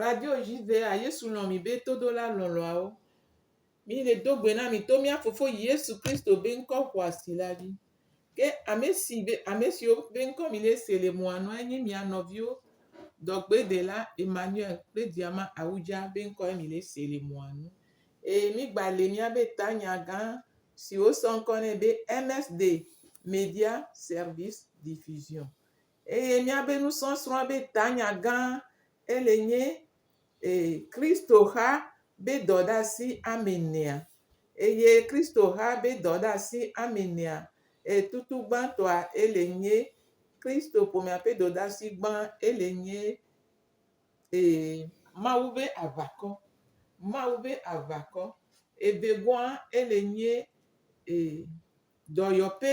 Radio dzi vea, Yesu lɔ̃ mì be todola lɔlɔ̃awo. Mí le do gbe na mì to mía Fofo Yesu Kristo be ŋkɔ xɔasi la dzi. Ke ame si be ame siwo be ŋkɔ mì le se le mɔa nua enye mía nɔviwo dɔgbedela Emmanuel kple Diama Awudza be ŋkɔe mì le se le mɔa nu. Eye mí gba le mía be tanya gã si wosɔ ŋkɔ nɛ be MSD Media Service Diffusion. Eye míabe nusɔsrɔ̃a be tanya gã ele nye ee Kristo xa be dɔ ɖe asi ame enea. Eye Kristo xa be dɔ ɖe asi ame enea ee tutu gbãtɔa ele nye Kristo ƒomea ƒe dɔ ɖe asi gbã ele nye ee. Mawu be aʋakɔ, Mawu be aʋakɔ, evegoa ele nye ee dɔyɔƒe.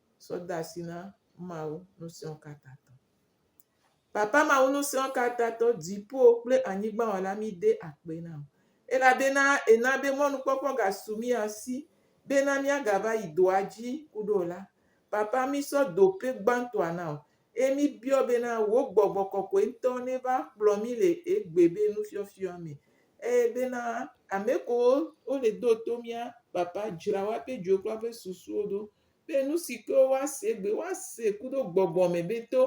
Sɔ de asi na Mawu Ŋusẽkatãtɔ. Papa Mawu Ŋusẽkatãtɔ, dziƒo kple anyigba Wɔla, míde akpe na wò elabena èna be mɔnukpɔkpɔ gasu mía si bena míagava yi dɔa dzi ku ɖe o la. Papa, mísɔ dope gbãtɔa na wò eye míbiɔ bena wò gbɔgbɔ kɔkɔe ŋutɔ neva kplɔ mí le egbe be nufiɔfiɔ me eye bena ame kewo wole do to mía, Papa, dzra woaƒe dzoe kple woaƒe susuwo ɖo Be nu si ke woase egbe, woase kuɖo gbɔgbɔ me be to,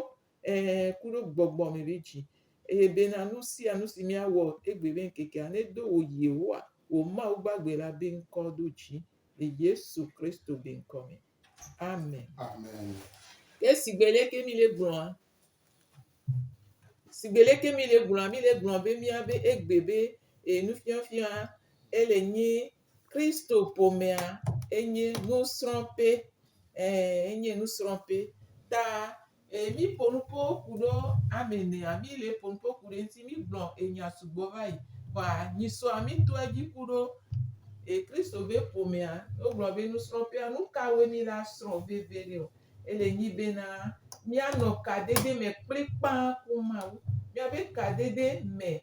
ɛ̃, kuɖo gbɔgbɔ me be dzi. Eye bena nu sia nu si míawɔ egbe be ŋkekea nedo wò Yehowa, wò Mawu gbagbe la be ŋkɔ ɖo dzi le Yesu Kristo be ŋkɔ me. Amen. Amen. Ke sigbe leke míle gblɔa? Sigbe leke míle gblɔa? Míle gblɔ be míabe egbe be e, nufiafia ele nye Kristo-ƒomea enye nusrɔ̃ƒe, ɛɛ enye nusrɔ̃ƒe. Ta ɛɛ míƒo nu ƒo ku ɖo ame ɛnɛ, mí le ƒo nu ƒo ku ɖe eŋuti mí gblɔ enya sugbɔ vayi. Kpɔa nyisɔa mí tɔɛ dzi ku ɖo ɛɛ Kristo be ƒomea, wo gblɔ be nusrɔ̃ƒea, nu kawoe mí la srɔ̃ veve ɖe ɔ? Ele nyi be na mía nɔ kadedeme kplikpaa ku Mawu. Mía be kadede me.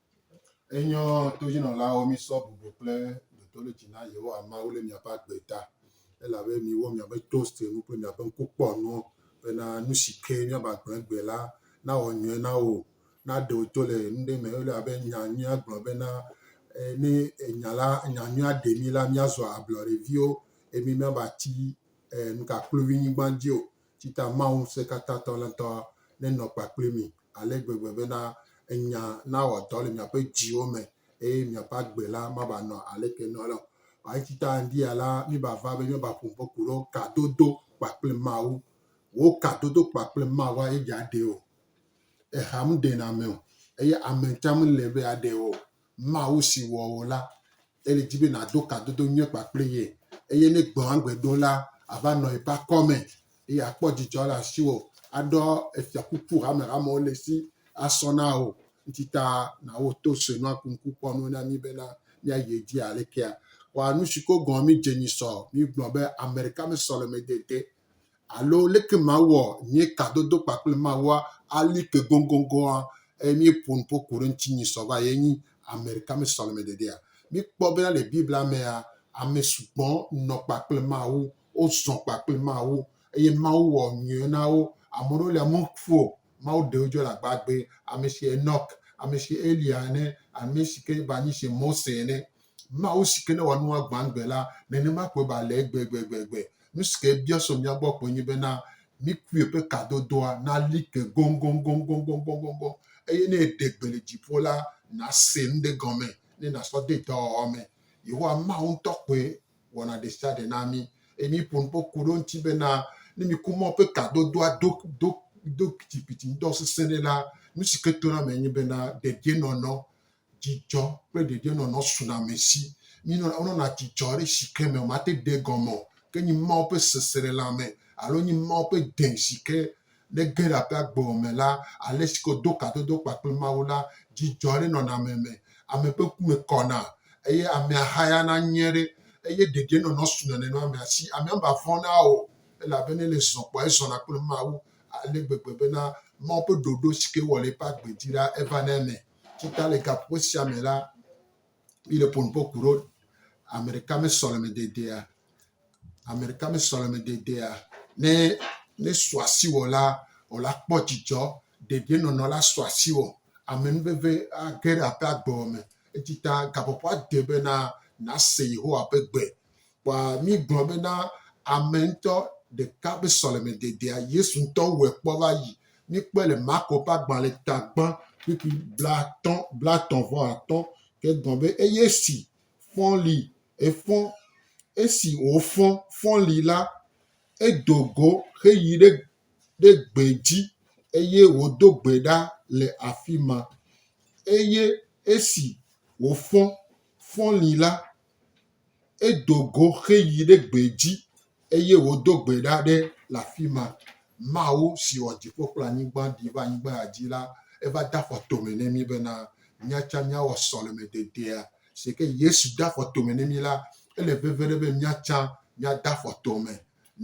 Enyɔ todzinɔlawo misɔ bublo kple dotolotsi na Yehowa Mawu le miaƒe agbe ta, elabe miwɔ miaƒe toastnu kple miaƒe ŋkukpɔnuwo bena nu si ke miabe agblẽ gbe la nawɔ nyuie na wò. Ne aɖe wò to le nu ɖe me elabe nya nyuia gblɔ bena, Ne nya la, nya nyuia ɖe mí la, míazua ablɔɖeviwo, eye mímava tsi nukakluivinyigba dzi o. Tsita Mawu Ŋusẽkatãtɔ la ŋutɔ nenɔ kpa kpli mi ale gbegbe bena enya nawɔ dɔ le miaƒe dziwo me eye miaƒe agbe la mava nɔ aleke nɔ la o. Eye tsita ŋdia la, miva va be miava ƒo ƒe ku ɖo kadodo kpa kple Mawu. Wò kadodo kpa kple Mawua ye dza ɖe o. Eha meɖena ame o eye ame tsã mele be yeaɖe o. Mawu si wɔ wò la, ele di be nàdo kadodo nyuie kpakple ye, eye ne gbɔ̃agbe ɖo la, àva nɔ eƒe akɔme, eye àkpɔ dzidzɔ le asiwò, aɖɔ efiakuku hamehamewo le esi asɔ na wò. Ŋuti ta na wò to sue nua ku ŋku kpɔ nu na mí bena míayi edzi alekea? Kpɔ anusi ko gɔ̃ mídze nyi sɔ. Mígblɔ be, Ame ɖeka me sɔlemedede Alo leke mawɔ nye kadodo kpakple Mawua ali ke goŋgoŋgoŋa eye míeƒo nu ƒo ku ɖe ŋuti nyi sɔ va ye nyi ameɖeka me sɔleme dedea? Míkpɔ bena le Biblia mea, ame sugbɔ nɔ kpakple Mawu, wozɔ kpakple Mawu eye Mawu wɔ nyuiwo na wo. Ame ɖewo lia meku o, Mawu ɖe wo dzo le agbagbe, amesi Enɔk, amesi Eliya ene, amesi ke va nyi se Mose ene. Mawu si ke ne wòanu agbãgbe la, nenema koe ba le egbe gbegbegbe. Nu si ke ebia so mía gbɔ koe nye bena mikui ƒe kadodoa nali ke goŋgoŋgoŋgoŋgoŋgoŋgoŋ, eye ne eɖe gbe le dziƒo la, nàse nu ɖe gɔme, ne nàsɔ de dɔwɔwɔ me. Yehowa Mawu ŋutɔ koe wɔna ɖesiaɖe na mí. Eye míƒo nu ƒe ku ɖe eŋuti bena, ne miku Mawu ƒe kadodoa do, do, do kpitikpiti ŋdɔ sesẽ ɖe la, nu si ke tona eme enye bena, dedienɔnɔ Dzidzɔ kple dedienɔnɔ suna ame si. Mí nɔna, wo nɔna dzidzɔ ɖe shike me, ma te ɖe gɔme o. Ke nyi Mawu ƒe seselelãme alo nyi Mawu ƒe dẽ shike ne ge ɖe aƒe agbe o me la, ale shike wo do kadodo kpakple Mawu la, dzidzɔ ɖe nɔna ame me. Ame ƒe ku me kɔna eye amea hayana nyuie ɖe eye dedienɔnɔ suna nenema amea si. Amea me vɔna o elabe ne ele zɔ kpɔa, ezɔna kple Mawu ale gbegbe bena Mawu ƒe ɖoɖo shike ewɔ le eƒe agbe dzi la, evana eme. Tsi ta le gaƒoƒo sia me la, mi le ƒonuƒo ku ɖo. Ame ɖeka me sɔleme dedea, ame ɖeka me sɔleme dedea. Ne ne sɔ asi wɔ la, wɔ la kpɔ dzidzɔ. Ɖeɖi nɔnɔ la sɔ asi wɔ. Ame nu veve age ɖe aƒea gɔme. Etsi ta gaƒoƒoa de be na nase Yehowa ƒe gbe. Kpɔa mígblɔ bena ame ŋutɔ ɖeka ƒe sɔlemededea, Yesu ŋutɔ wɔe kpɔ va yi. Míkpɔe le Marko ƒe agbalẽ tagbã kpukpui blaatɔ̃, blaetɔ̃ vɔ atɔ̃, ke egblɔ be, Eye esi fɔ̃ li, efɔ̃, esi wòfɔ̃, fɔ̃ li la, edo go heyi ɖe ɖe gbe dzi, eye wòdo gbe ɖa le afi ma. Eye esi wòfɔ̃, fɔ̃ li la, Edo go heyi ɖe gbe dzi eye wòdo gbe ɖa ɖe le afi ma. Mawu si wɔ dziƒo kple anyigba ɖi va anyigba ya dzi la, eva de afɔ tome ne mí bena mía tsɛ míawɔ sɔlemededea. Si ke Yesu de afɔ tome ne mí la, ele veve ɖe be mía tsɛ míade afɔ tome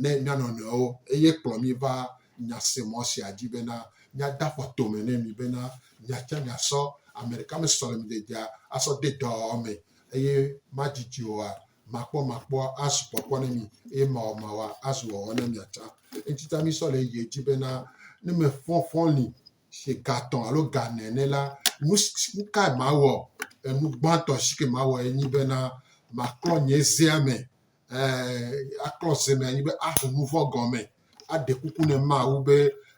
ne mía nɔnɔewo, eye kplɔ mí va nyasemɔ sia dzi bena míade afɔ tome ne mi bena miatsã miasɔ ame ɖeka me sɔlemedzedzea asɔ de dɔwɔwɔ me, eye madidi oa, makpɔmakpɔa azu kpɔkpɔ ne mi, eye mawɔmawɔa azu wɔwɔ ne mia tsã. Eŋuti ta mísɔ le yeye dzi bena ne mefɔfɔ li ƒe gatɔ̃ alo gane ene la, nu kae mawɔ? Enu gbãtɔ si ke mawɔe nye bena maklɔ nye zea me eh, aklɔ se me anyi be aho nu vɔ̃ gɔme, aɖe kuku ne Mawu be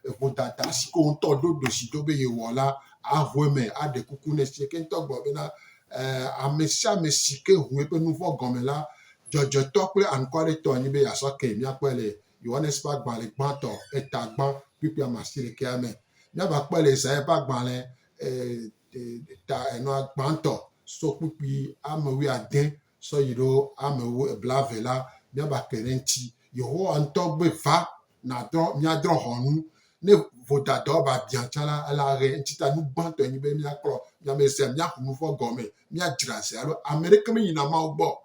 eŋudada si ke wòŋutɔ ɖo ɖosi do be yewɔ la, aho eme, aɖe kuku ne si ke ŋutɔ gblɔ bena eh, ame sia ame si ke ŋu eƒe nu vɔ̃ gɔme la, dzɔdzɔetɔ kple anukwalẽtɔ enye be yeasɔ ke. Míakpɔe le Yohanes ƒe agbalẽ gbãtɔ, eta gbã kpukpui ame asi ɖekea me. Míava kpɔe le Yesaya ƒe agbalẽ eh, eh, ta enɔa gbãtɔ so kpukpui ame wuiade sɔ yi ɖo amewo eblave la, míaba kpe ɖe eŋuti. Yehowa ŋutɔ gbe va nadrɔ míadrɔ hɔnu. Ne vodadɔ ba biã tsã la, ele ahe eŋuti ta. Nu gbãtɔ nyi be míaklɔ mía me sia, míaku nu vɔ̃ gɔme, míadzra zi alo ame ɖeke meyina Mawu gbɔ o.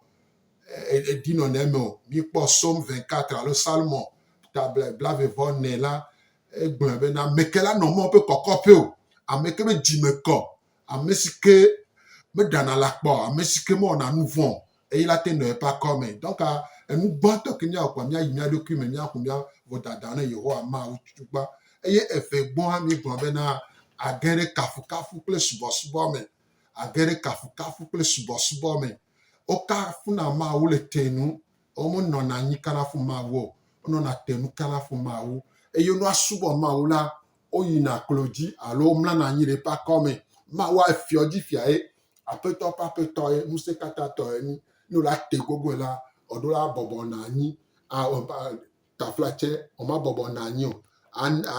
Edi nɔna eme o. Míkpɔ Psaume 24 alo Salmo ta blaeve vɔ ene la, egblɔe be, Na meke la nɔ Mawu ƒe kɔkɔƒe o, ame ke be dzi me kɔ Ame si ke meɖana la kpɔ, ame si ke mewɔna nu vɔ̃ o, eyi la te nɔa eƒe akɔ me. Donc, enu gbãtɔ ke míawɔ kpɔa, míayi mía ɖokui me, míaƒo mía vodada na Yehowa, Mawu tutugbã. Eye evegbɔ hã, míegblɔ bena, age ɖe kafukafu kple subɔsubɔ me. Age ɖe kafukafu kple subɔsubɔ me. Wokafuna Mawu le te nu. Womenɔna anyi kana fu Mawu o. Wonɔna te nu kana fu Mawu. Eye ne woasubɔ Mawu la, woyina klo dzi alo womlana anyi ɖe eƒe akɔme. Mawu afiɔ dzi fia ye, aƒetɔ ƒe aƒetɔ ye, ŋusẽ katã tɔ ye nyi. Ne wòle ate gogoe la, eɖo la abɔbɔ nɔ anyi, taflatsɛ wòmabɔbɔ nɔ anyi o,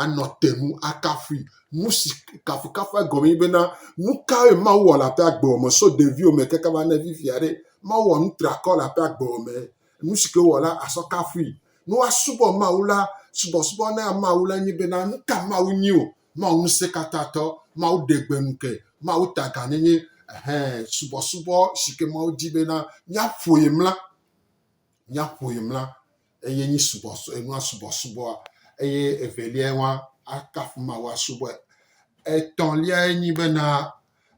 anɔ te nu akafui. Nu si kafukafu egɔme nye bena, nu kae Mawu wɔ le aƒe agbewɔme so ɖeviwo me keke va neva fifia ɖe? Mawu wɔ nu triakɔ le aƒe agbewɔme. Nu si ke wowɔ la, asɔ kafui. Ne woasubɔ Mawu la, subɔsubɔ na Mawu la nye bena, nu ka Mawu nyi o? Mawu Ŋusẽkatãtɔ, Mawu Ɖegbenuke, Mawu Taganyenye, ɛhɛ, subɔsubɔ si ke Mawu di bena míaƒoe mla, míaƒoe mla, eye nyi subɔ, enua subɔsubɔa. Eye eveliae wã, akafu Mawu asubɔe. Etɔ̃liae nyi bena,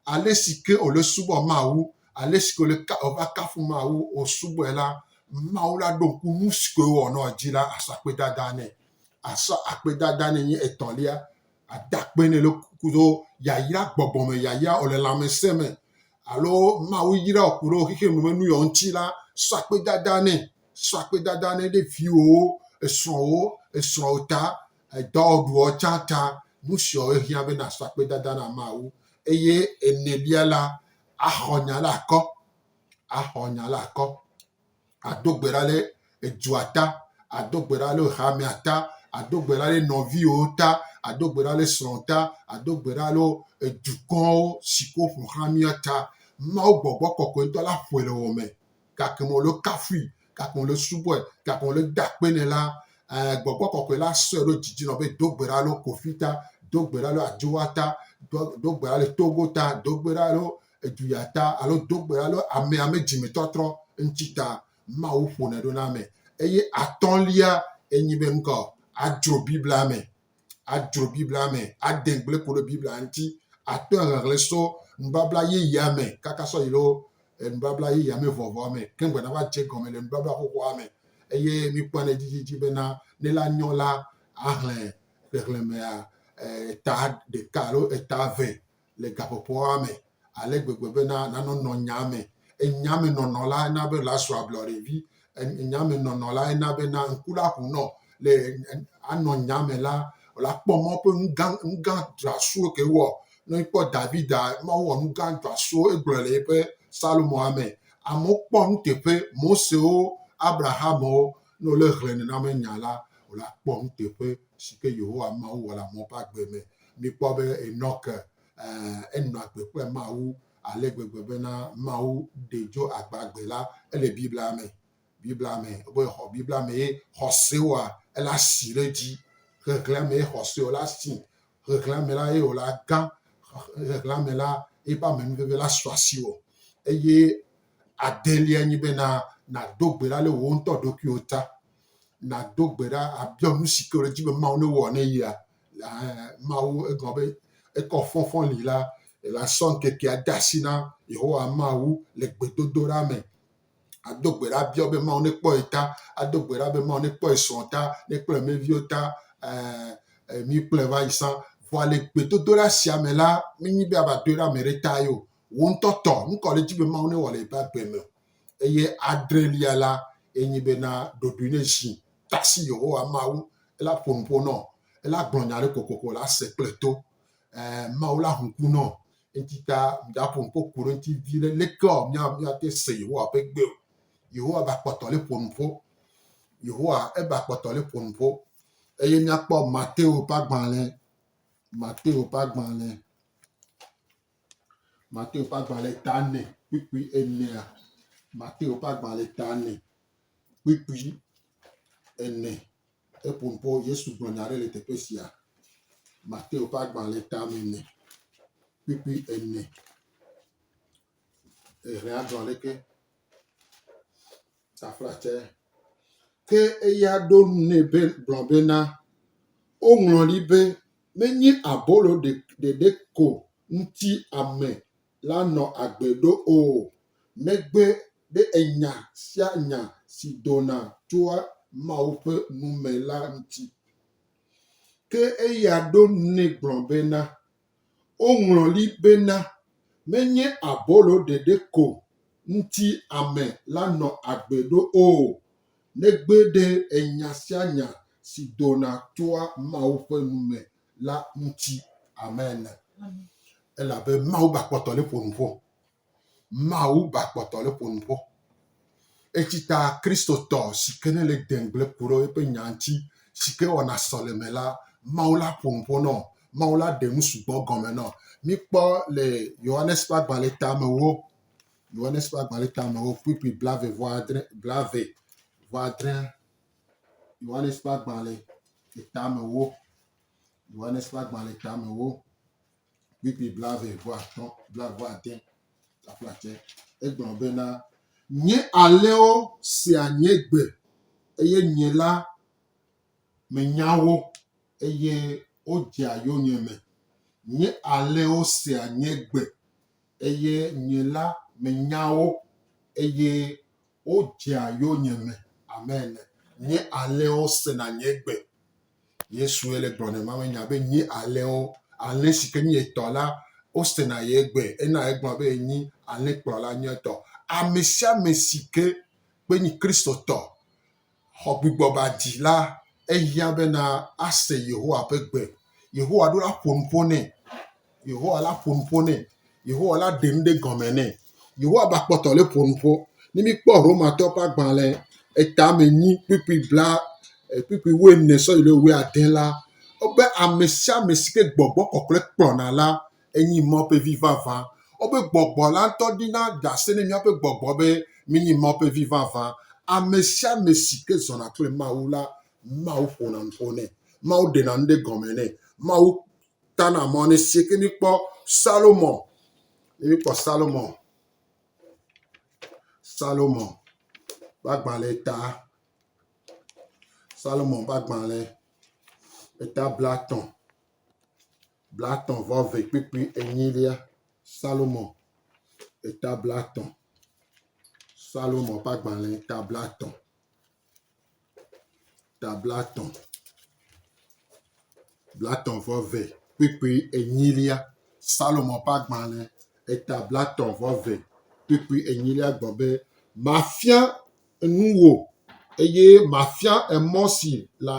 ale si ke wòle subɔ Mawu, ale si ke wòle ka, wòva akafu Mawu, wòsubɔe la, Mawu la ɖo ŋku nu si ke wòwɔ nɔ dzi la, asɔ akpedada nɛ. Asɔ akpedada nɛ nye etɔ̃lia, ada akpe nɛ le kudo yayra gbɔgbɔ me yayra wòle lãmesẽ me alo Mawu yra wò ku ɖe wò xexeame me nu yewo ŋuti la, sɔ akpedada nɛ. Sɔ akpedada nɛ ɖe viwòwo, esrɔ̃wo, esrɔ̃wò ta, Edɔ ɖuɔ tsa ta, nu siɔ ehiã be na sɔ akpedada na Mawu. Eye enelia la, axɔ nya la akɔ, axɔ nya la akɔ, ado gbe ɖa le edua ta, ado gbe ɖa le hamea ta, ado gbe ɖa le nɔviwo ta, ado gbe ɖa le srɔ̃ ta, ado gbe ɖa le edukɔwo si ke woƒoxlã mía ta. Mawu gbɔgbɔ kɔkɔetɔ la ƒoe le wò me gake me wòle kafui, gake me wòle subɔe, gake me wòle da akpe nɛ la, eh, gbɔgbɔ kɔkɔe la sɔe ɖo didi nɔ be do gbe ɖa le Kofi ta, do gbe ɖa le Adjoa ta, do gbe ɖa le Togo ta, do gbe ɖa le Eduya ta, alo do gbe ɖa le ame ame dzime tɔtrɔ ŋuti ta. Mawu ƒonɛ ɖo na ame. Eye atɔ̃lia enyi be ŋkɔ, adzro Biblia me. adzro Biblia me, ade gble ku ɖe Biblia ŋuti, ato ahlẽhlẽ so nubabla yeyea me kaka sɔ yi ɖo nubabla yeyea me vɔvɔa me, ke ŋugbe nava dze gɔme le nubabla xoxoa me. Eye mikpɔnɛ dzidzidzi bena ne la nyɔ la ahlẽ xexlẽmea eta ɖeka alo eta eve le gaƒoƒoa me ale gbegbe bena nano nɔ nyaa me. Enya me nɔnɔ lae na be la sua ablɔɖe vi. Enya me nɔnɔ lae na bena ŋku la ƒo nɔ le anɔ nya me la, la kpɔ mɔ ƒe nugã nugã dzɔasuwo ke wɔ. Ne kpɔ Davida, Mawu wɔ nugã dzɔasuwo egblɔ le eƒe Salomoa me. Amewo kpɔ nuteƒe, Mosewo, Abrahamwo, ne wole hle nenama nya la, la kpɔ nuteƒe. Si ke Yehowa Mawu wɔ le amewo ƒe agbe me. Míkpɔ be Enɔk, ẽ, enɔ agbe kple Mawu ale gbegbe bena Mawu ɖee tso agbagbe la, ele Biblia me. Biblia me, be xɔ, Biblia mee xɔsewoa, ele asi ɖe edzi. Ʋeʋlea mee xɔse wòle asi. Ʋeʋlea me la, ye wòle agã. Ʋeʋlea me la, eƒe amenuveve la su asiwò. Eye adelia nye bena, nàdo gbe ɖa ɖe wò ŋutɔ ɖokuiwò ta. nàdo gbe ɖa abiɔ nu si ke wòle dzi be Mawu ne wɔ ne yea. Mawu egɔme be ekɔ fɔfɔ li la, asɔ ŋkekea de asi na Yehowa Mawu le gbedodoɖa me. Ado gbe ɖa biɔ be Mawu nekpɔ ye ta, ado gbe ɖa be Mawu nekpɔ ye srɔ̃ ta, nekpɔ ye meviwo ta, mi kplɔe va yi sã. Vɔa le gbedodoɖa sia me la, menye be ava doe ɖe ame ɖe ta ye o. Wò ŋutɔ tɔ, nu ka wòle dzi be Mawu newɔ le eƒe agbe me o. eye adrelia la ye nyi bena ɖoɖoe ne zi tasi Yehowa Mawu ela ƒo nu ƒo nɔ ela gblɔ nya ɖe kokoko la se kple to eh, Mawu la hu ku nɔ enti ta mìdaƒo nu ƒo ku ɖe enti vi ɖe leke o mía míate se Yehowa ƒe gbe o Yehowa ba kpɔtɔ le ƒo nu ƒo Yehowa eba kpɔtɔ le ƒo nu ƒo eye míakpɔ Mateo ƒe agbalẽ Mateo ƒe agbalẽ Mateo ƒe agbalẽ ta ene kpukpui enea. Mateo ƒe agbalẽ ta ene kpukpui ene. Eƒo ŋkɔ Yesu gblɔ nya aɖe le teƒe sia. Mateo ƒe agbalẽ ta me ene kpukpui ene. Ehe adzɔ aleke? taflatse. Ke eya ɖo ŋu nɛ be gblɔ bena, Woŋlɔ ɖi be, Menye abolo ɖe ɖeɖe ko ŋuti ame la nɔ agbe ɖo o, negbe ɖe enya sia nya si dona tso Mawu ƒe nu me la ŋuti. Ke eya ɖo ŋu nɛ gblɔ bena, Woŋlɔ li bena, Menye abolo ɖeɖe ko ŋuti ame la nɔ agbe ɖo o, negbe ɖe enya sia nya si dona tsoa Mawu ƒe nu me la ŋuti. Amen. Elabe Mawu ba kpɔtɔ li ƒo nu ƒo. Mawu ba kpɔtɔ le ƒonu kpɔ. Etsi ta Kristotɔ si ke nele degble ku ɖe eƒe nya ŋuti si ke wɔna sɔleme la, Mawu la ƒonu ƒo nɔ. Mawu la ɖe nu sugbɔ gɔme nɔ. Míkpɔ le Yohanes ƒe agbalẽ tamewo, Yohanes ƒe agbalẽ tamewo, kpukpui blave vɔ adre, blave vɔ adre, Yohanes ƒe agbalẽ tamewo, Yohanes ƒe agbalẽ tamewo. PP blaeve-vɔ-atɔ̃, blave-vɔ-ade, taƒlacɛ. Egblɔ bena, Nye alẽwo sea nye gbe, eye nye la menya wo, eye wodzea yonyeme. Nye alẽwo sea nye gbe, eye nye la menya wo, eye Wo dzea yonyeme ame ene. Nye alẽwo sena nye gbe. Yesue le gblɔ ne mawe nya be nye alẽwo, alẽ si ke nye etɔ la, wo sena ye gbe. Ena egblɔ be ye nyi alẽkplɔla nyuietɔ. Amesiame si ke kpe nyi Kristotɔ xɔgbugbɔbadila, ehiã bena ase Yehowa ƒe gbe. Yehowa ɖo la ƒo nu ƒo nɛ. Yehowa la ƒo nu ƒo nɛ. Yehowa la ɖe nu ɖe gɔme nɛ. Yehowa ba kpɔtɔ le ƒo nu ƒo. Ne míkpɔ Romatɔwo ƒe agbalẽ etamɛnyi kpukpui bla e kpukpui wuiene sɔ yi ɖe wuiade la, wobe amesiame si ke gbɔgbɔ kɔkɔe kplɔna la Enyi mɔ ƒe vi vavã. Wobe gbɔgbɔ la ŋutɔ ɖina ɖe asi ne míaƒe gbɔgbɔ be mínyi mɔ ƒe vi vavã. Ame sia ame si ke zɔna kple Mawu la, Mawu ƒona nu ƒo nɛ. Mawu ɖena nu ɖe gɔme nɛ. Mawu tana mɔ nɛ. Si ke míkpɔ Salomo, ne míkpɔ Salomo, Salomo ƒe agbalẽ ta, Salomo ƒe agbalẽ eta blatɔ̃. blatɔ̃ vɔ ve kpukpui enyilia. Salomo ƒe ta blatɔ̃. Salomo ƒe agbalẽ ta blatɔ̃. Ta blatɔ̃. Blatɔ̃ vɔ ve kpukpui enyilia. Salomo ƒe agbalẽ eta blatɔ̃ vɔ ve kpukpui enyilia gblɔ be, Mafia nu wò eye mafia emɔ si la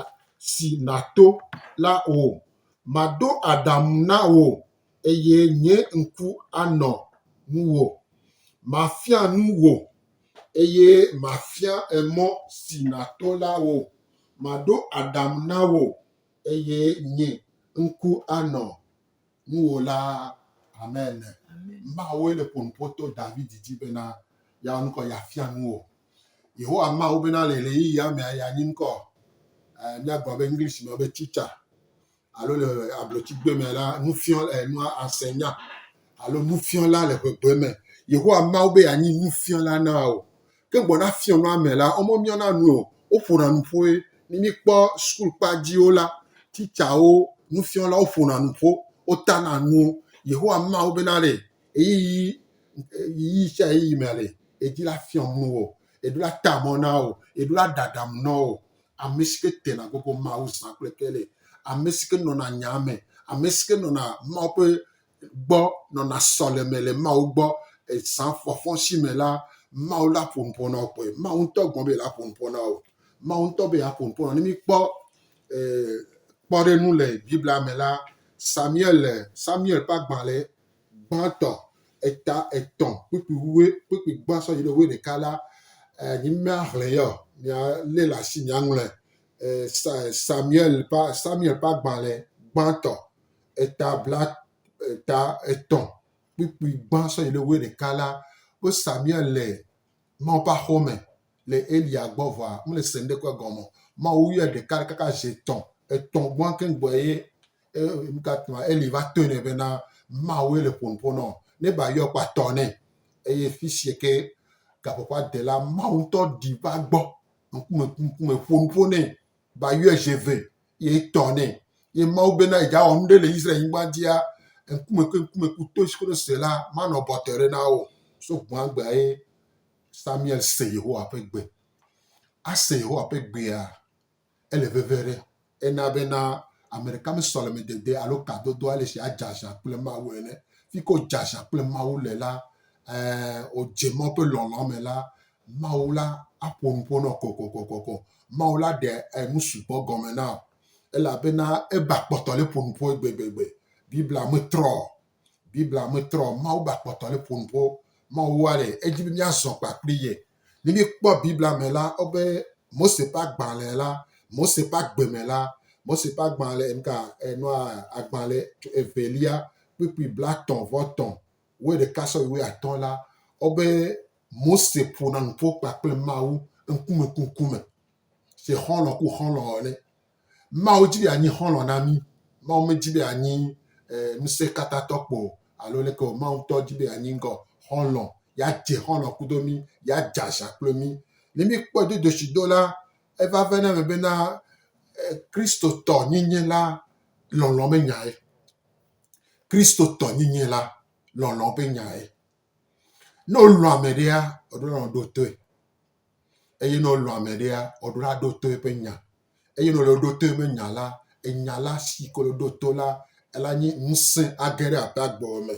si nàto la wò. Maɖo aɖaŋu na wò eye nye ŋku anɔ ŋuwò. Mafia nu wò eye mafia emɔ si nàto la wò. Maɖo aɖaŋu na wò eye nye ŋku anɔ. ŋuwò la hame ene. Mawoe le ƒo nu ƒo to Davidi dzi bena yeawɔ nu kɔ yeafia nu wò. Yehowa Mawu bena le ɣeyiɣi ya mea, yeanyi ŋkɔ. Eh, míagblɔ be English me be teacher alo le ablotsigbe me la nufiɔ eh, nua asenya alo nufiɔla le ƒegbeme. Yehowa Mawu be yeanyi nufiɔla na wò. Ke ŋgbɔ na fiɔnua me la, wome miɔna nu o. Woƒona nu ƒoe. Ne míkpɔ sukulkpa dziwo la, titsawo, nufiɔlawo ƒona nu ƒo. Wotana nu. Yehowa ma wo bena ɖe ɣeyiɣi, ɣeyiɣi sia ɣeyiɣi mea ɖe edi la fiɔm nu wò, eɖo la ta mɔ na wò, eɖo la ɖaɖam nɔ wò. Ame si ke tena gogo Mawu zã kple ke le ame si ke nɔna nyaa me, ame si ke nɔna Mawu ƒe gbɔ nɔna sɔleme le Mawu gbɔ. Ezã fɔfɔsi me la, Mawu la ƒo nu ƒo na wo kpɔe. Mawu ŋutɔ gɔme be yeaƒo nu ƒo na wo. Mawu ŋutɔ be yeaƒo nu ƒo na wo. Ne míkpɔ eh, kpɔɖeŋu le Biblia me la, Samuel le Samuel ƒe agbalẽ gbãtɔ eta etɔ̃ kpukpui wue kpukpui gbã sɔ yi ɖe wue ɖeka la, eh, nyi míaxlẽ yɔ, míalé le asi, míaŋlɔe. Eh, Sa- Samuel ƒe Samuel ƒe agbalẽ gbãtɔ eta bla eta etɔ̃ kpukpui gbã sɔ yi ɖe wuiɖeka la, wo Samuel le Mawu ƒe aƒe me le Eliya gbɔ vɔa mele se ŋɖekpe gɔme o. Mawu yɔe ɖeka ɖeka kaka zi etɔ̃. Etɔ̃ gbɔa keŋ gbɔe ye nukatama Eli va tɔe nɛ bena Mawue le ƒo nu ƒo nɔo. Ne ba yɔe kpɔa tɔ nɛ. Eye fisia ke gaƒoƒoa de la Mawu ŋutɔ ɖi va gbɔ ŋkume ŋkume ƒo nu ƒo nɛ. ba yɔe dze vɛ, ye etɔ nɛ. Ye Mawu bena yedza wɔ nuɖe le Israel nyigban dzia, ŋkume kple ŋkume ku to koɖo se la, manɔ bɔtɔe ɖe na wo. So gbɔagbea ye Samuel se Yehowa ƒe gbe. Ase Yehowa ƒe gbea, ele veve ɖe. Ena bena ame ɖeka me sɔleme dede alo kadodo ale si adze aza kple Mawu ene. Fike wodze aza kple Mawu le la, eh, wodze Mawu ƒe lɔlɔa me la, Mawu la aƒo nu ƒo nɔ kɔkɔkɔkɔkɔ. Mawu la ɖe enu sugbɔ gɔme na wò elabena eba kpɔtɔ le ƒo nu ƒoe gbegbegbe. Biblia me trɔ o. Biblia me trɔ o. Mawu ba kpɔtɔ le ƒo nu ƒo. Mawu wa ɖe edzi be míazɔ kpakpli ye. Ne míekpɔ Biblia me la, wobe Mose ƒe agbalẽ la, Mose ƒe agbe me la, Mose ƒe agbalẽ, nuka, enua, agbalẽ evelia kpukpui blatɔ̃ vɔ tɔ̃ wuiɖeka sɔyi wuiatɔ̃ la, wobe Mose ƒona nu ƒo kpakple Mawu ŋkume ku ŋkume se xɔlɔ̃ ku xɔlɔ̃ ene. Mawu di be yeanyi xɔlɔ̃ na mí. Mawu medi be yeanyi e, ŋusẽkatãtɔ kpo alo leke o. Mawu ŋutɔ di be yeanyi ŋgɔ xɔlɔ̃, yeadze xɔlɔ̃ kudo mí, yeadze aza kple mí. Ne míkpɔe dodoshi do la, eva ve na eme bena e, Kristotɔ nyinyi la lɔlɔ̃ menyae. Kristotɔnyinyi la lɔlɔ̃ ƒe nyae. Ne wolɔ̃ ame ɖea, woɖona wo ɖo toe eye ne wolɔ̃ ame ɖea, woɖona wo ɖo to eƒe nya eye ne wolɔ̃ wo ɖo to eƒe nya la, enya la si ke wole ɖo to la ela nye ŋusẽ age ɖe aƒea gbe me.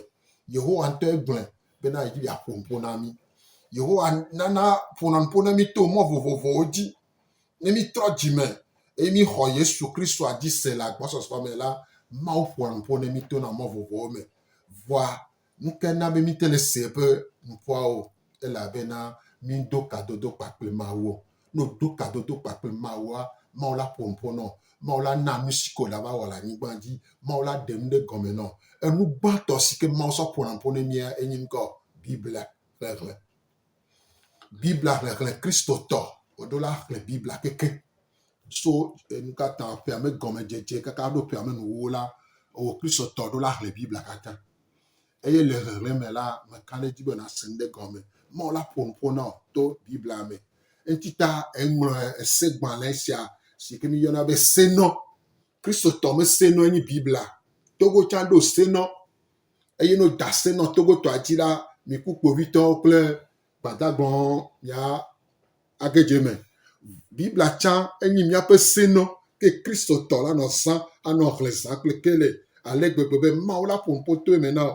Yehowa ŋutɔe gblɔe bena yedzi be yeaƒo nu ƒo na mí. Yehowa nana ƒona nu ƒo na mí to mɔ vovovowo dzi. Ne mítrɔ dzime eye míxɔ Yesu Kristoa dzi se le agbɔsɔsɔ me la, Mawu ƒoa nu ƒo na mí tona mɔ vovovowo me. Vɔa, nu kae na be míte le se eƒe nuƒoa o? Ele abe na mído kadodo kpa kple Mawu. Ne wòdo kadodo kpa kple Mawua, Mawu la ƒo nu ƒo nɔ. Mawu la na nu si ke wòle ava wɔ le anyigba dzi. Mawu la ɖe nu ɖe gɔme nɔ. Enu gbãtɔ si ke Mawu sɔ ƒona nu ƒo na mía enye ŋkɔ Biblia xexlẽ. Biblia xexlẽ Kristotɔ. Woɖo la xlẽ Biblia keke so enu ka ta ƒea me gɔmedzedze kaka ɖo ƒea me nuwuwo la, ewɔ Kristotɔ ɖo la xlẽ Biblia katã. Eye le xexlẽ me la, meka ɖe edzi be nàse nu ɖe gɔme. Mawu la ƒo nu ƒo na wò to Biblia me. Eŋuti ta eŋlɔ esegbalẽ sia si ke míyɔna be Senɔ Kristotɔ me se nɔ nyi Biblia togo can ɖo se nɔ. Eye no da se nɔ togo tɔ aji ɖa mi ku kpovitɔ kple gbadagbɔn mia age je me. Biblia can enyi miape se nɔ ke Kristotɔ la nɔ zã anɔ hle zã kple ke le ale gbegbe be Mawu la ƒo ŋpotoe me na o.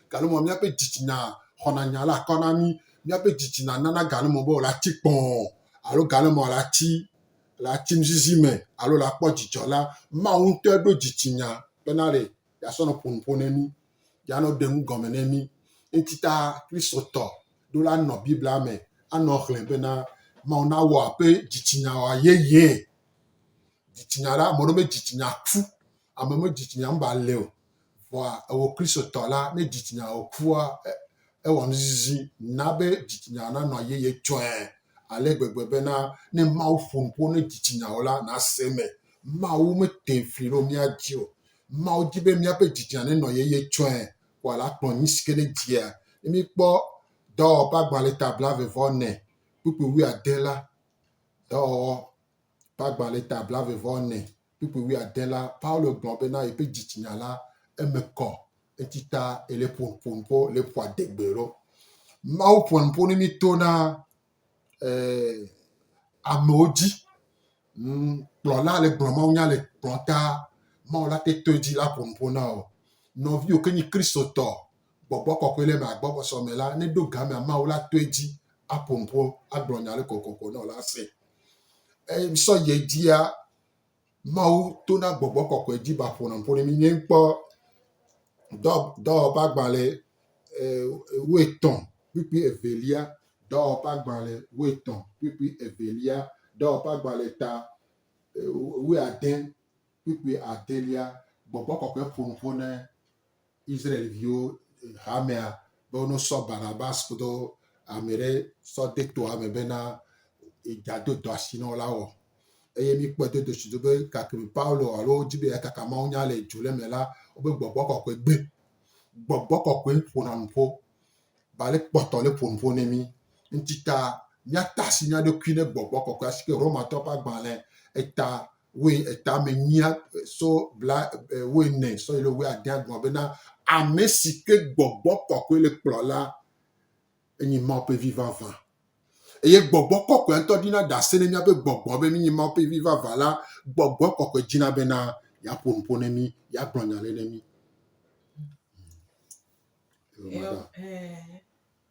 Galumɔ, míaƒe dzitsinya xɔna nya la akɔ na mí. Míaƒe dzitsinya nana galumɔ be wòle atsi kpɔɔ alo galumɔ le atsi le atsi nuzizi me alo le akpɔ dzidzɔ la, Mawu ŋutɔe ɖo dzitsinya bena ɖe yeasɔ nɔ ƒo nu ƒo ne mí, yeanɔ ɖe nu gɔme ne mí. Eŋuti ta Kristotɔ ɖo la nɔ Biblia me anɔ hlẽ bena Mawu nawɔ eƒe dzitsinya wòayeyee. Dzitsinya la, ame aɖewo be dzitsinya ku. Ame me dzitsinya ŋba le o. Vɔa ewɔ Kristotɔ la, ne dzitsinya wɔ kua, ewɔ nuzizi na be dzitsinya nanɔ yeye tsɔe ale gbegbe bena ne Mawu ƒo nu ƒo ne dzitsinya wò la, nàse eme. Mawu mete fli ɖo mía dzi o. Mawu di be míaƒe dzitsinya nenɔ yeye tsɔe ko ale akplɔ nu si ke nedzia. Ne míkpɔ Dɔwɔwɔ ƒe agbalẽ ta blaeve vɔ ene kpukpui wuiade la, Dɔwɔwɔ ƒe agbalẽ ta blaeve vɔ ene kpukpui wuiade la, Paulo gblɔ bena yeƒe dzitsinya la, eme kɔ, eti ta ele ƒo ƒo nu ƒo le ƒoa degbe ɖo. Mawu ƒoa nu ƒo ne mi to na eh, amewo dzi. Mm, kplɔla le gblɔ mawu nya le kplɔ ta, mawu la te to edzi la ƒo nu ƒo na o. Nɔviwo ke nyi kristotɔ, gbɔgbɔ kɔkɔe le ma gbɔgbɔsɔ me la, ne ɖo game mawu la to edzi aƒo nu ƒo agblɔ nya le kokoko na o la se. Eye sɔ yedzia, Mawu to na gbɔgbɔ kɔkɔe dzi ba ƒonaƒone mi nye kpɔ dɔ dɔwɔƒe agbalẽ e, woetɔn kpukpui evelia dɔwɔƒe agbalẽ woetɔn kpukpui evelia dɔwɔƒe agbalẽ ta e, woeade kpukpui adelia gbɔgbɔ kɔkɔe ƒonuƒo ne Israel-viwo hamea be wonɔ sɔ Barnabas kudo ame ɖe sɔ de toa me bena yeado dɔ asi na wo la wɔ. Eye míkpɔe do dosi do be gake Paulo alo wodi be yeakaka mawunya le dzo le me la, wobe gbɔgbɔ kɔkɔe gbe. Gbɔgbɔ kɔkɔe ƒona nu ƒo. Ba le kpɔtɔ le ƒo nu ƒo ne mí. Ŋuti ta míata asi mía ɖokui ne gbɔgbɔ kɔkɔe asike Romatɔ ƒe agbalẽ eta woe etame nyia so bla woe ne so le woe adea gɔn bena ame si ke gbɔgbɔ kɔkɔe le kplɔ la enyi ma pe vi vava eye gbɔgbɔ kɔkɔe ntɔ dina dase ne mia pe gbɔgbɔ be mi ma pe vi vava la gbɔgbɔ kɔkɔe dina bena ya pon pon ne mi ya gblɔnya le ne mi Yeah.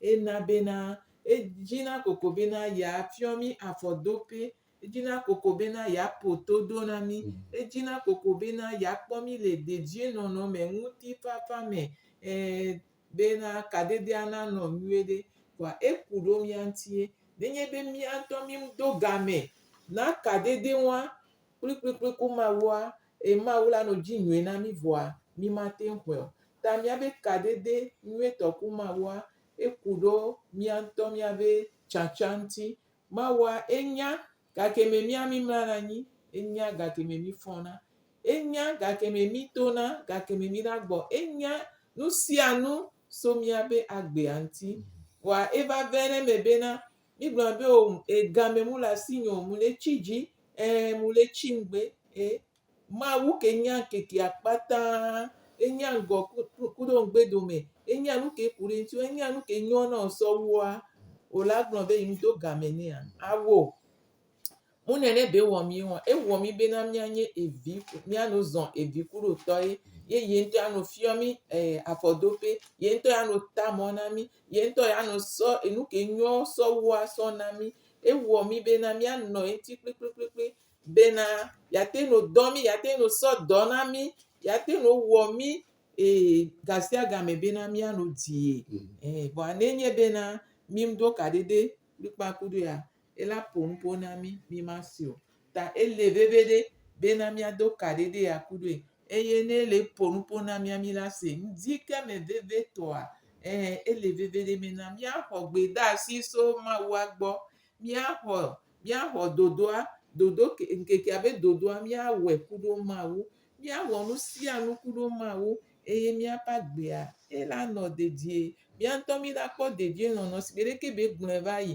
Ena bena, edzi na koko bena yeafiɔ mí afɔdope, edzi na koko bena yeaƒo todo na mí, edzi na koko bena yeakpɔ mí le dedienɔnɔ me, ŋutifafa me, ɛ̃, bena kadedea nanɔ nyuie ɖe. Vɔa eku ɖo mía ŋutie. Nenye be mía ŋutɔ mído game na kadedewoa kplikplikpli ku Mawua, Eye Mawu la nɔ dzi nyuie na mí vɔa, mí ma te ŋ xɔe o. Ta mía be kadede nyuie tɔ ku Mawua, e ku ɖo mía ŋutɔ mía be tsatsa ŋuti. Mawua e nya gake me mía mí mlana anyi, e nya gake me mí fɔna, e nya gake me mí tona, gake me mí na gbɔ, e nya nusianu so mía be agbea ŋuti. Vɔa e va vɛnɛ me bena, Mi gblɔna be o e game mu le asi nyo mu le tsi dzi e mu le tsi ŋgbe e Mawu ke nya ŋkeke akpata e nya ŋgɔ ku ku ɖo ŋgbe dome e nya nu ke ku ɖe ŋuti e nya nu ke nyo na o sɔ wua o la gblɔ be yi ŋdo game nea a wo. Mu nɛ ne be wɔ mí ŋɔ. Ewɔ mí be na mía nye evi, mía no zɔn evi kuɖo tɔ ye. Ye ye ŋutɔ ya no fiɔ mí eh afɔdo ƒe. Ye ŋutɔ ya no ta mɔ na mí. Ye ŋutɔ ya no sɔ enu ke nyɔ sɔ wu asɔ na mí. Ewɔ mí be na mía nɔ eŋuti kplikplikpli be na ya te no dɔ mí, ya te no sɔ dɔ na mí, ya te no wɔ mí eh gasiagame be na mía no di ye. Eh vɔa ne nye be na mí ŋɖo kaɖeɖe kplikpakpu ɖo ya. ela ƒo nu ƒo na mí, mí ma si o. Ta ele veve ɖe be na mía do ka ɖe ɖe ya ku ɖoe. Eye ne ele ƒo nu ƒo na mía mí la se. Ŋdi ke me veve tɔa, ɛɛ ele veve ɖe be na mía xɔ gbedasi so Mawua gbɔ. Mía xɔ, mía xɔ dodoa, dodo ke, ŋkekea be dodoa mía wɔe ku ɖo Mawu. Mía wɔ nu sia nu ku ɖo Mawu. Eye mía ƒe agbea ela nɔ dedie. Mía ŋutɔ mí la kpɔ dedienɔnɔ si gbeɖe ke be gblɔe va yi.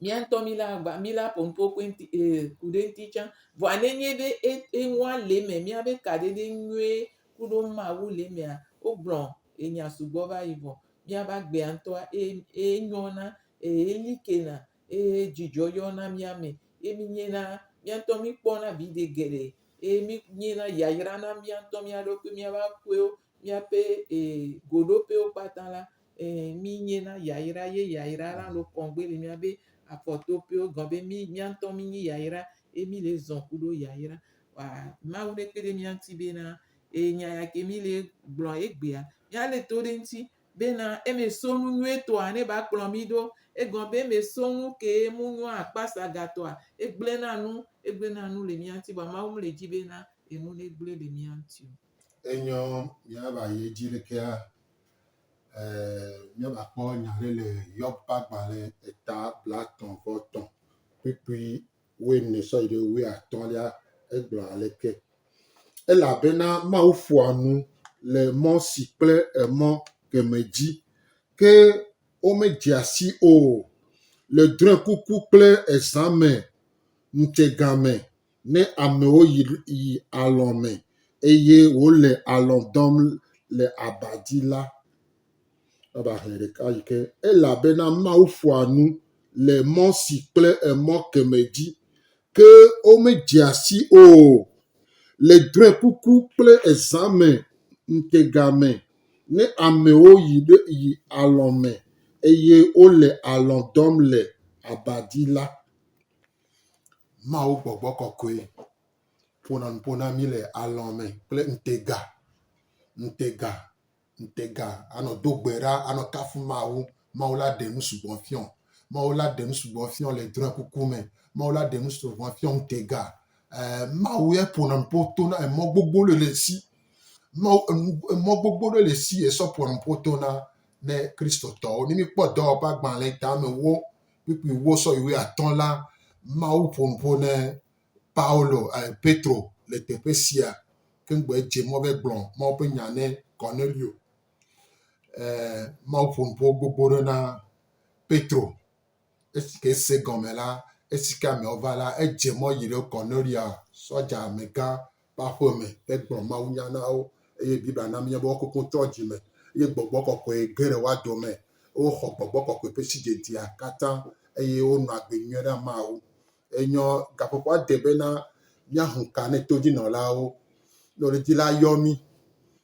mía ŋutɔ mílé agba, mílé aƒo nuƒoƒoe ŋuti ee ku ɖe eŋuti tsã. Vɔa nenye be e eŋua le eme míaƒe kaɖedɛ nyuie ku ɖo Mawu le emea, wogblɔ enya sugbɔ va yi vɔ. Míaƒe agbea ŋutɔa eye eye nyɔna eye eli kena eye dzidzɔ yɔna mía me ye mínyena mía ŋutɔ míkpɔna viɖe geɖe eye mínyena yayra na mía ŋutɔ mía ɖokui, míaƒe aƒewo Míaƒe ee goɖoƒewo kpata la, ee mínye na yayra ye yayra la nɔ kɔŋ gbe le mía be afɔtoƒewo gɔn be mí mía ŋutɔ mínyi yayra ye mí le zɔ̃ kuɖo yayra. Wa Mawu ne kpe ɖe mía ŋuti bena ee nya ya ke mí le gblɔ egbea mía le to ɖe eŋuti bena eme so nu nyuie tɔa ne va kplɔ mí ɖo. Egɔn be eme so nu kee mu nyo akpasa ga tɔa egble na nu egble na nu le mía ŋuti vɔa Mawu me le dzi bena enu ne gble le mía ŋuti o. Enyɔ míava yi edzi ɖekea, míava kpɔ nya ɖe le Yob ƒe agbalẽ eta blaetɔ̃ vɔ tɔ̃ kpukpui wuiene sɔ yi ɖe wuiatɔ̃lia. Egblɔ aleke, Elabena Mawu ƒoa nu le mɔ si kple emɔ kemɛ dzi, ke womedzea sii o, le drɔ̃ekuku kple ezã me, ŋutsegã me, ne amewo yi yi alɔ̃ me eye wole alɔ̃ dɔm le aba dzi la, eva hlẽ ɖeka yi ke elabena Mawu ƒoa nu le mɔ si kple emɔ kemɛ dzi ke womedzea si o. Le drɔ̃ekuku kple ezã me ŋutega me, ne amewo yi ɖe yi alɔ̃ me eye wole alɔ̃ dɔm le aba dzi la, Mawu gbɔgbɔ kɔkɔe ƒona nu ƒo na mí le alɔ me kple ŋutega, ŋutega, ŋutega anɔ do gbe ɖa, anɔ kafu Mawu. Mawu la ɖe nu sugbɔ fiɔ. Mawu la ɖe nu sugbɔ fiɔ le drɔ̃ekuku me. Mawu la ɖe nu sugbɔ fiɔ ŋutega. E Mawu ya ƒona nu ƒo to na emɔ gbogbo ɖe le si. Mawu enu emɔ gbogbo ɖe le si esɔ ƒona nu ƒo to na ne Kristotɔwo. Ne míkpɔ dɔwɔƒe agbalẽ tamewo kpukpui wo sɔ yi wui atɔ la, Mawu ƒo nu ƒo ne Paulo, eh, Petro le teƒe sia ke ŋgbe dze mɔ be gblɔ Mawu ƒe nya ne Cornelio. Eh, Mawu ƒo nu ƒo gbogbo ɖe na Petro. Esi ke se gɔme la, esi ke ameawo va la, edze mɔ yi ɖe Cornelia, sɔdza megã ƒe aƒe me hegblɔ mawunya na wo eye Biblia na míenya be woawo kekeŋ trɔ dzi me eye gbɔgbɔ kɔkɔe ge ɖe woa dome. Woxɔ gbɔgbɔ kɔkɔe ƒe sidzedzea katã eye wonɔ agbe nyuie na Mawu. Enyɔ gaƒoƒoa de bena míaho ka ne todzinɔlawo, nyɔnudzila yɔ mí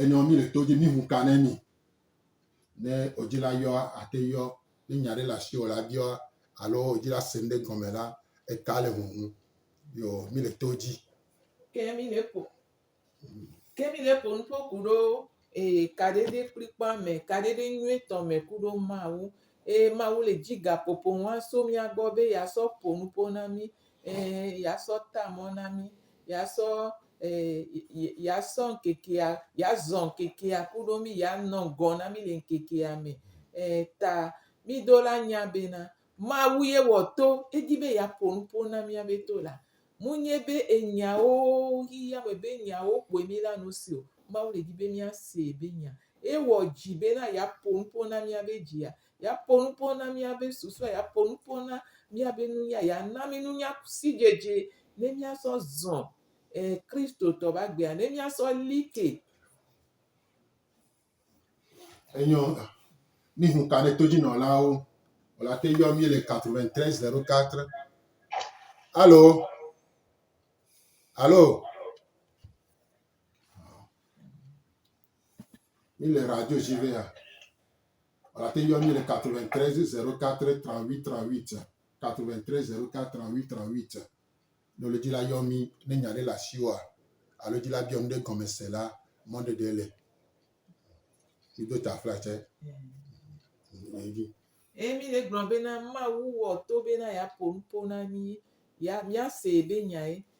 Enɔ mí le to dzi mí ŋu ka ne mí. Ne odzila yɔ ate yɔ ne nya ɖe le asi o la biɔ alo odzila se ŋɖe gɔme la eka le ŋuŋu yo mí le to dzi. Ke mí le ƒo ke mí le ƒo nuƒo ku ɖo ee kaɖeɖe kplikpɔa me kaɖeɖe nyuitɔ me ku ɖo Mawu. Eye Mawu le dzi gaƒoƒo ŋua so mía gbɔ be yeasɔ ƒo nuƒo na mí. Ɛɛ, yeasɔ ta mɔ na mí. Yeasɔ, ɛɛ, yeasɔ ŋkekea, yeazɔ ŋkekea kuɖo mí. Yeanɔ ŋgɔ na mí le ŋkekea me. Ɛɛ, ta mídola nya bena, Mawu ye wɔ to. Edi be yeaƒo nu ƒo na míabe to la. Munye be enyawo, xexeame be nyawo kpoe mílea nu se o. Mawu le di be míasee be nya. Ewɔ dzi bena yeaƒo nu ƒo na míabe dzia. Yeaƒo nu ƒo na míabe susue, yeaƒo nu ƒo na míabe nunya, yeana mí nunya sidzedze ne míasɔ zɔ eh Kristotɔ ƒe agbea, ne míasɔ li ke. Enyɔ ŋa. Mí hun ka ne todzinɔlawo o la te yɔ mí le 93 04. Alo? Alo? Mí le radio dzi vea. Ate ŋu ayɔ mí le 93 04 38 38, 93 04 38 38. Ne wòle dzila yɔ mí ne nya aɖe le asiwòa alo dzila biɔ nu ɖe gɔme se la, mɔɖeɖe le. Mído ta fla tse. Nɔ edzi. Eye mí le gblɔ bena Mawu wɔ to bena yeaƒo nuƒo na mí, ya míasee be nyae.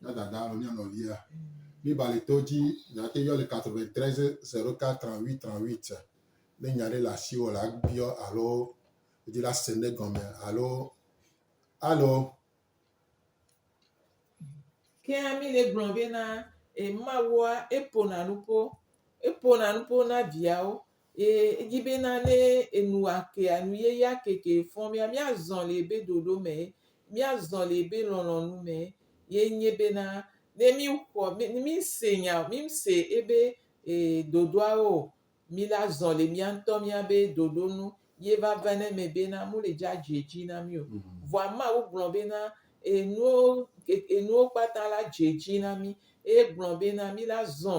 Mía Dada alo mía Nɔvia li ba le to dzi, nàte yɔ le 93 04 38 38 ne nya aɖe le asiwò la biɔ alo wòdi la se ne gɔme alo alo. Kea mi le gblɔ be na emawoa eƒona nuƒo eƒona nuƒo na viawo. Eye edzi be na ne enu ake anu yeye ake ke fɔm ya mía zɔ le ebe ɖoɖo me, mía zɔ le ebe lɔlɔnu me ye nye be na ne mí xɔ mí mí se nya mí se ebe e ɖoɖoa wo mí la zɔ le mía ŋutɔ mía be ɖoɖo nu ye va va ne me be na mu le dza dze dzi na mí o. Vɔa ma wo gblɔ be na enuwo enuwo kpata la dze dzi na mí eye gblɔ be na mí la zɔ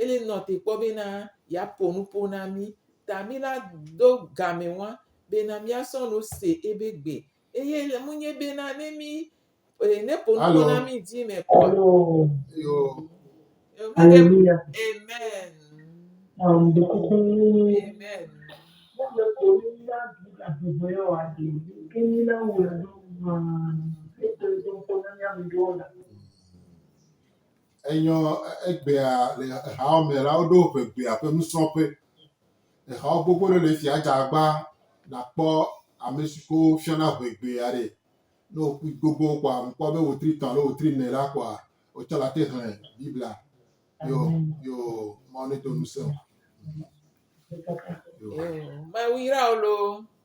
Eli nɔ te kpɔ bena yeaƒo nuƒo na mí, ta míla do gamɛ ŋua bena míasɔ nu se ebe gbe. Eye ele ŋunye bena ne mí, e, ne ƒo nuƒo na mí dzi mɛ kpɔa. Yo. Aleluya. Amen. Um, de kuku. Amen. Mɔle ko ni na du la bubɔ ya wa de. Ke ni na wo la do ma. Ete do ko na nya mi do la. Enyɔ egbea le exawo me la, woɖo ʋegbea ƒe nusrɔ̃ƒe. Exawo gbogbo ɖe le esia dze agba nàkpɔ ame si ke wofiana ʋegbea ɖe. Ne wòku gbogbo kɔa, mekpɔ be wòtri etɔ̃ alo wòtri ene la kɔa, wotsɔ la te xlẽ Biblia. Yo, yo, Mawu nedo ŋusẽ wò. Yo. Mawu yra wò loo.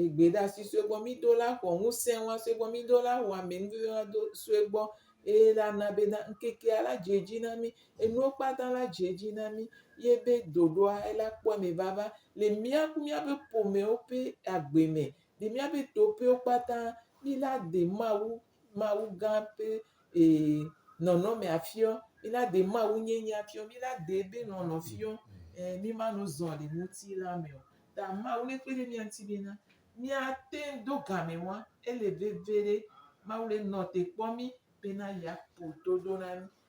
egbeɖasi sue gbɔ. Mido la xɔ ŋusẽ wa sue gbɔ. Mido la xɔ amenuveve wa do sue gbɔ eye la na be na ŋkekea la dze edzi na mí. Enuwo kpata la dze edzi na mí ye be ɖoɖoa ela kpɔ eme vava le mía ku míaƒe ƒomewo ƒe agbe me le míaƒe toƒewo kpata mí la de Mawu Mawu gã ƒe nɔnɔme afiɔ, mina ɖe Mawu nyenye afiɔ, mina ɖe eƒe nɔnɔ fiɔ, mi ma nɔ zɔ le ŋutilã me o. Ta Mawu ne kpe ɖe mía ŋuti be na, mía te ŋu do game wa, ele veve ɖe Mawu le nɔ te kpɔ mí be na yea ƒo toɖo na mí.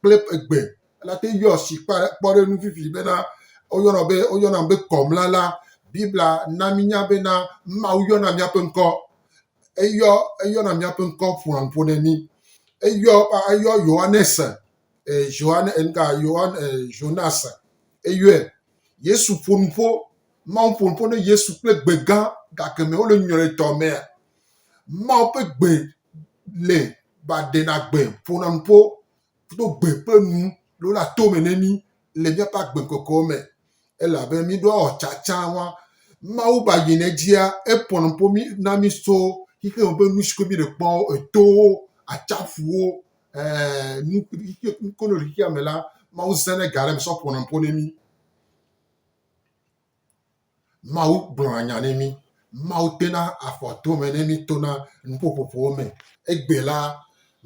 kple egbe elate ŋu yɔ si kpe kpɔ ɖe eŋu fifi bena woyɔna be woyɔna be kɔmla la. Biblia na mínya bena Mawu yɔna míaƒe ŋkɔ. Eyɔ eyɔna míaƒe ŋkɔ ƒoa ŋƒo ne mí. Eyɔ eyɔ Yohanes e Johan enka Johan e Jonas eyɔe. Yesu ƒo nu ƒo Mawu ƒo nu ƒo ne Yesu kple gbe gã gake me wole nyɔetɔ mea. Mawu ƒe gbe le ba ɖena gbe ƒona nu ƒo do gbe ƒe nu lo la to me ne mi le miaƒe agbe kɔkɔ me ele abe mi ɖo awɔ tsatsa wa mawu ba yi ne dzia eƒo nu ƒo mi na mi so xixi me ƒe nu si ko mi le kpɔ etowo atsaƒuwo ɛɛ nu nu ko le xixia me la mawu zã ne ga ɖe me sɔ ƒona nu ƒo ne mi Mawu gblɔna nya ne mí. Mawu tena afɔ to me ne mí tona nuƒoƒoƒowo me. Egbe la,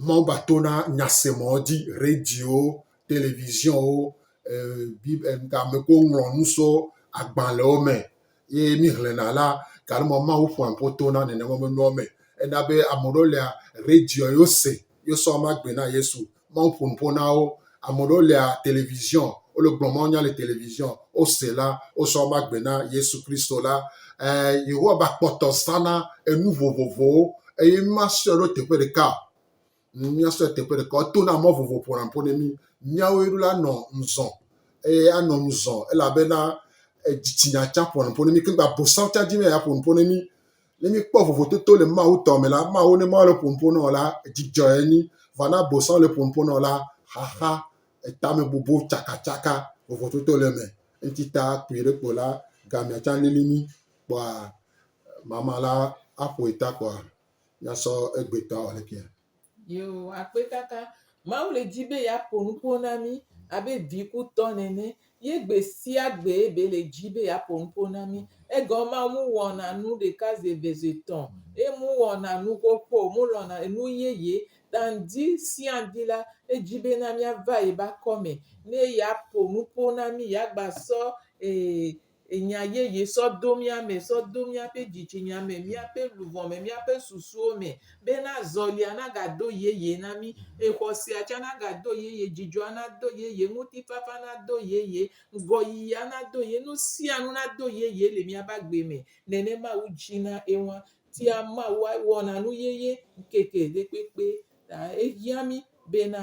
Mawu va tona nyasemɔ dzi, radio, televisionwo, ame ko ŋlɔ nu so agbalẽwo me ye mí xlẽna la, gake mɔ Mawu ƒoa ƒo tona nenema me nuwo me. Ena be ame ɖewo lia, radio ye wo se yosɔ ama gbe na Yesu. Mawu ƒo nu ƒo na wo. Ame ɖewo lea televiziɔn, wole gblɔ mawo nya le televiziɔn, wose la, wosɔ ama gbe na Yesu Kristo la. E, Yehowa ba kpɔtɔ zana enu vovovowo eye míasɔe ɖo teƒe ɖeka. Míasɔe teƒe ɖeka. Eto na mɔ vovovo ƒona ƒo ne mí. Míawo ɖo la nɔ ŋzɔ eye anɔ ŋzɔ elabena dzitsinya tsã ƒona ƒo ne mí. Ke gba bosam tsã dzi mɛ ya ƒona ƒo ne mí. Ne míekpɔ vovototo le Mawu tɔ me la, Mawu ne Mawu le ƒoƒo na wò la, dzidzɔ enyi. Vɔ ne abosam le ƒoƒo na wò la, xaxa, etame bobo, tsakatsaka, vovototo le eme. Eŋuti ta kpuie ɖe kpo la, gamea tsã lili mí kpɔa mama la aƒoe ta kpɔa míasɔ egbetɔ awɔ ɖekee. Yoo, akpetaka. Mawu le di be yeaƒo nuƒo na mí abe vikutɔ nene ye gbe sia gbe be le di be yeaƒo nuƒo na mí. Egɔme maa muwɔna nu ɖeka zi eve zi etɔ̃ eye muwɔna nu xoxo o. Mulɔ̃na enu yeye. Ta ŋdi sia ŋdi la, edi bena míava yi be akɔme ne yeaƒo nuƒo na mí, yeagbasɔ e Enya yeye sɔ do mía me, sɔ do míaƒe dzitsinya me, míaƒe luʋɔ me, míaƒe susuwo me, bena azɔlia nagado yeye na mí, xɔsea tsã nagado yeye, dzidzɔa nado yeye, ŋutifafa nado yeye, ŋgɔyiyia nado yeye, nu sia nu nado yeye le míaƒe agbe me. Nene Mawu dzina eŋua. Tia Mawua wɔna nu yeye ŋkeke ɖe kpekpe ta. Ehiã mí bena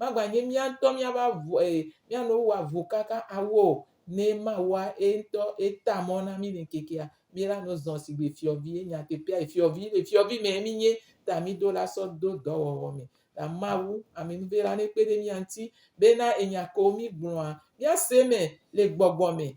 Maganye mía ŋutɔ míava avu e mía nɔewo wɔ avu kaka awɔ o. Ne mawɔa, eŋutɔ eta mɔ na mí le ŋkekea mí la no zɔn sigbe fiɔvi ye nyateƒea yi fiɔvi le fiɔvi mɛ mí nye ta mí do la sɔ do dɔwɔwɔ mɛ. Ta Mawu, amenuve la ne kpe ɖe mía ŋuti bena enya kewo mí gblɔa mía se mɛ le gbɔgbɔ mɛ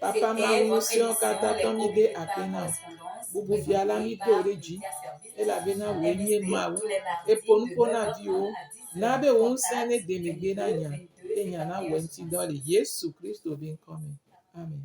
Papa Mawu ŋusẽtɔ katã tɔ mí ɖe akpe na wò. Bubu Fia la mí do wò ɖe dzi elabena wòe nye Mawu. Eƒo nu ƒo na viwò. Na be wò ŋusẽ ne de megbe na nya eye nya nawɔ eŋuti dɔ le Yesu Kristo be ŋkɔ me. Amen.